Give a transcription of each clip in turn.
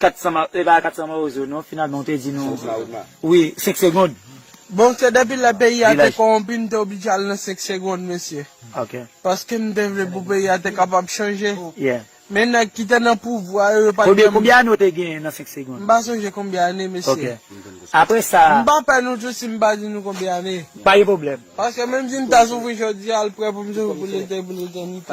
400 ma e pa 400 mawozo non finalman ou te di nou wi 5 segond. Bon se depi lè peyi a te kowonpi m te oblije al nan 5 segond mesye paske m te vle pou peyi a te kapab chanje men nèg ki te nan pouvwa yo yo pat janm Konbyen ane ou te genyen nan 5 segond? M pa sonje konbyen ane mesye m pa pè nou tou si m pa di nou konbyen ane paske menm si m ta soufri jodi a l prè pou m soufri pou lete pou letènite.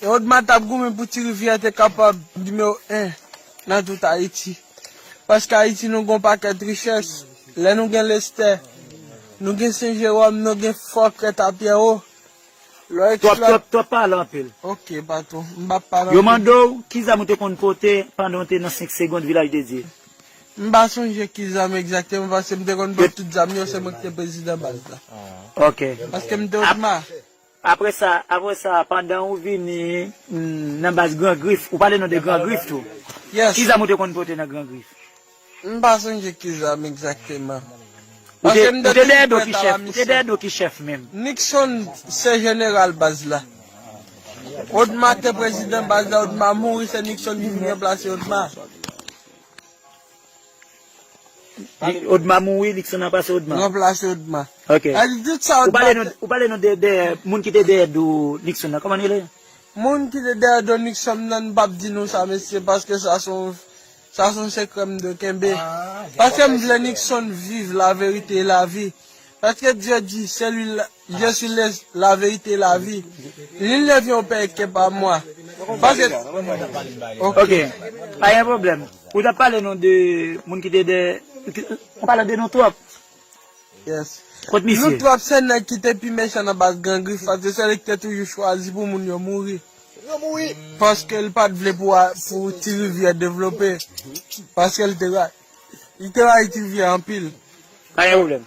Erodma t ap goumen pou Ti Rivyè te kapab nimewo 1 nan tout Ayiti. Paske Ayiti nou gen yon pakèt richès. Lè nou gen Lestè, nou gen Sen Jeròm, nou gen Fò Krèt a Pyèwo. Lè w eksplò. Twòp, twòp, twòp, pa pale anpil. Ok, patwon, m pa pale anpil. Yo mande w ki zam ou te konn pote pandan w te nan 5 segond Vilajdedye. M pa sonje ki zam egzakteman paske m te konn bat tout zam yo, se mwen ki te prezidan baz la. Ok. Paske m te Odma. Apre sa, apre sa, pandan ou vini nan baz Gran Grif, ou pale nou de Gran Grif tou. Yes. Ki zam ou te konn pote nan Gran Grif? M pa sonje ki zam egzakteman. Ou te, Paske m ou te te dèyè toujou do ki prèt a la chèf, ou te dèyè misyon. do ki chèf menm? Nixon se jeneral baz la. Odma te prezidan baz la, Odma mouri, se Nixon ki vin ranplase Odma. Odma mouri Luxana pase Odma. Ranplase Odma. Ok. Epi tout sa Odma te. Ou pale nou de dèyè moun ki te dèyè do Luxon nan kòman li rele? Moun ki te dèyè do Luxon nan m pap di nou sa mesye paske sa se yon sa se yon sekrè m dwe kenbe. Paske m vle Luxon viv la verite e la vi. Paske Dye di se li Je suis le la verite et la vie Lil neuf yon pè kè pa mwa Paske Ok pa gen pwoblèm Ou tap pale nou de moun ki te dè Ou pale de nou twòp Yes Kot misye Nou twòp se nèg ki te pi mechan nan baz Gran Grif Paske se li ki te toujou chwazi pou moun yo mouri Paske li pat vle pou ti rivyè devlope Paske li te rayi Li te rayi ti rivyè anpil Pa gen pwoblèm.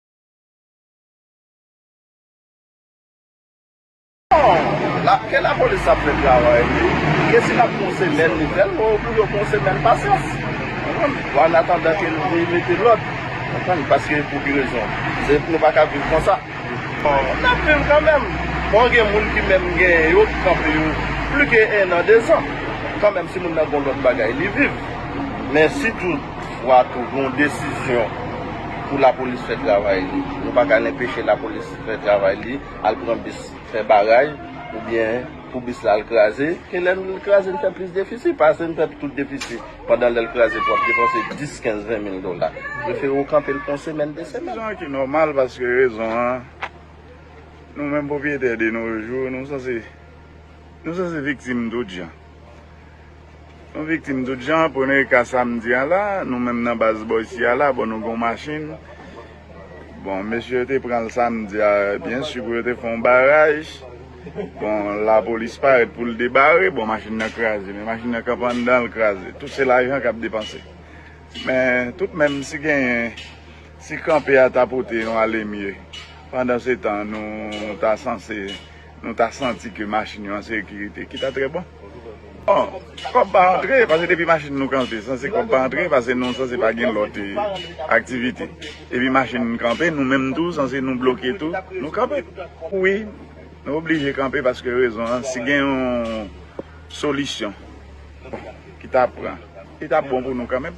Ke la polis ap fè travay li, ke si l ap pran semèn li fè l, ou pou yo pran semèn pasyans. Ou an atandan ke l vin mete lòd. Paske pou ki rezon? Se pou nou pa ka viv konsa. N ap viv kanmèm. Bon gen moun ki menm gen yo ki kanpe yo pli ke ennan, dezan. Kanmèm si moun nan gen yon lòt bagay li viv. Men sitou. Vwa tou gen yon desizyon pou lapolis fè travay li. Nou pa ka lenpeche lapolis fè travay li, al pran bis fè baray oubyen pou bis la al kraze. Ke lè li kraze li fè plis defisi, pa ase li fè tout defisi pandan lè li kraze pou ap depanse 10, 15, 20 mil dola. Prefere ou kanpe l pou yon semèn, 2 semèn. Jan ki nòmal paske rezon an nou menm pwopriyetè de no jou nou sanse nou sanse viktim tout jan. Nou viktim tout jan, premye ka sa m di a la, nou menm nan baz bò isi a la, bon nou gen yon machin, bon mesye yo te pran l samdi a, byen si pou yo te fè yon baraj, bon lapolis parèt pou l debare, bon machin nan kraze, men machin nan kanpe anndan l kraze, tout se lajan k ap depanse. Men tout menm si genyen, si kanpe a ta pote yon alemye, pandan se tan nou ta sanse. nou ta santi ke machin yo an sekirite ki ta trè bon. Bon, kòb pa antre, pase depi machin nou kanpe, sanse kòb pa antre, pase nou sanse pa gen lòt aktivite. Depi machin nou kanpe, nou menm tou, sanse nou bloke tou, nou kanpe. Wi, nou oblije kanpe paske rezon an, si gen yon solisyon ki ta pran, li ta bon pou nou kanmenm.